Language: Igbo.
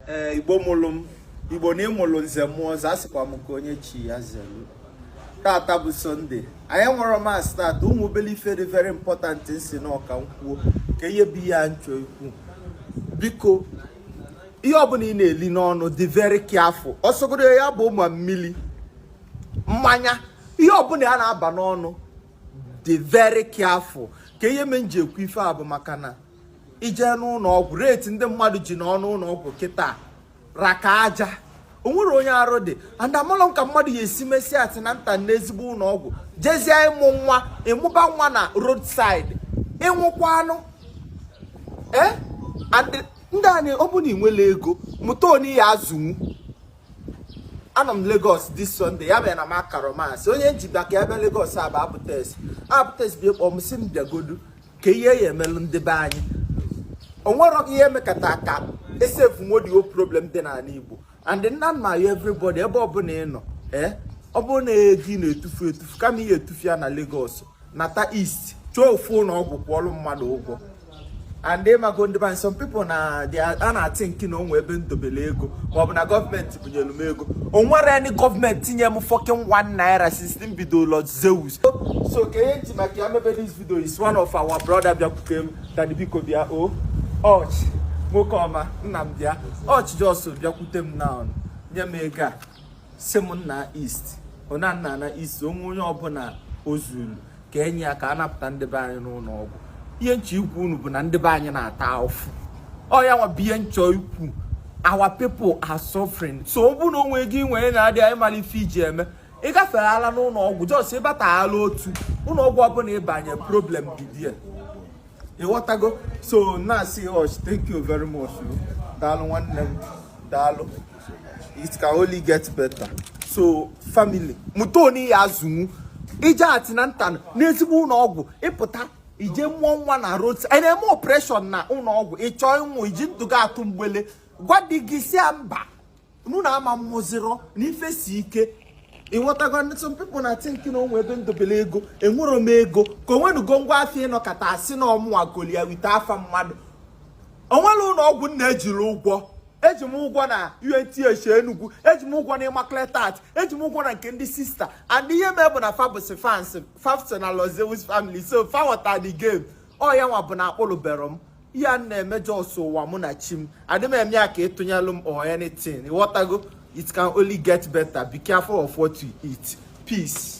ee igbo mụlụ m igbo na ịmụlụ nze mụọ ọzọ asịkwa m ka onye chi ya zelu tata bụ sọnde anyị enwero mass tata onwe obele ife dị very important nsi nọọ ka nkwuo ka ihe bụ ihe a nchọ ikwu biko ihe ọbụla ị na-eli n'ọnụ dị very careful ọsọgodo ya bụlụ ma mmili mmanya ihe ọbụla ya na-aba n'ọnụ dị very careful ka ihe me nji ekwu ife a bụ maka na ije n'ụlọ ọgwụ rate ndị mmadụ ji anọ n'ụlọ ọgwụ kịta raka aja o nwero onye arụ dị and amalọ m ka mmadụ ya esi mesịa antenatal n'ezigbo ụlọ ọgwụ jezie ịmụ nwa ịmụba nwa na roadside ịnwụkwaanụ ee and ndị anyị ọ bụrụ na ị nwero ego mụta onye ị ya azụnwu anọ m Lagos this Sunday ya bụ na m akaro mass onye nji baka ya bịa Lagos bụ Abutex Abutex bịa kpọọ m si m bịagodu ka ihe ya emelụ ndị be anyị onwero ihe emekata ka e solve nwodio problem dị n'ala Igbo and na m na-ayọ everybody ebe ọbụla ị nọ ee eh, ọ bụrụ na ego ị na-etufu etufu kama ị ya etufu ya na Lagos nata east chọọ ofu ụlọ ọgwụ kwụọlụ mmadụ ụgwọ and ịmago ndị be anyị some people na a na-athink na onwe ebe ndobele ego maọbụ na gọọmenti bunyelu m ego o nwero any gọọmenti nye m fucking 1 naira since m bido Lord Zeus so ka ihe nji maka ya mebe this video is one of our brother bịakwute m dadị biko bịa o oh, ọchị nwoke ọma nna m bịa ọchị just bịakwute m na nye m ego a si m naa east o na nnaa na east onwe onye ọbụla ozuru ka enye aka anapụta ndị be anyị n'ụlọ ọgwụ ihe nchọ ikwu unu bụ na ndị be anyị na-ata afụfụ ọya nwa bụ ihe nchọ ikwu our people are suffering so ọ bụrụ na onwe ego ị nwere na-adị ị maro ife iji eme ị gaferela n'ụlọ ọgwụ just ịbata ala otu ụlọ ọgwụ ọbụla ịbanye problem bidie ịghọtago so na-asị ọch oh, thank you very much daalụ nwanne m daalụ it can only get better so family mụta onye ị ya azụnwu ije antenatal n'ezigbo ụlọ ọgwụ ịpụta ije mụọ nwa na road a na-eme operation na ụlọ ọgwụ ịchọọ ịnwụ iji ndụ gị atụ mgbele gwa di gị si ya mba na unu ama mụzirọ na ife si ike ịghọtago and some people na think na onwe ebe ndobele ego enwero m ego ka onwenugo ngwa afọ ịnọkata asị na ọmụwa golia wite afa mmadụ onwero ụlọ ọgwụ n na-ejiro ụgwọ eji m ụgwọ na UNTH Enugu eji m ụgwọ na Immaculate Heart eji m ụgwọ na nke ndị sista and ihe mee bụ na fa bụsị fans fa so na Lord Zeus family so fa ghọta the game ọ ya nwa bụ na akpụlụbero m ihe a n na-eme just mụwa mụ na chi m adị m eme ya ka ịtụnyelụ m or anything ịghọtago it can only get better be careful of what you eat peace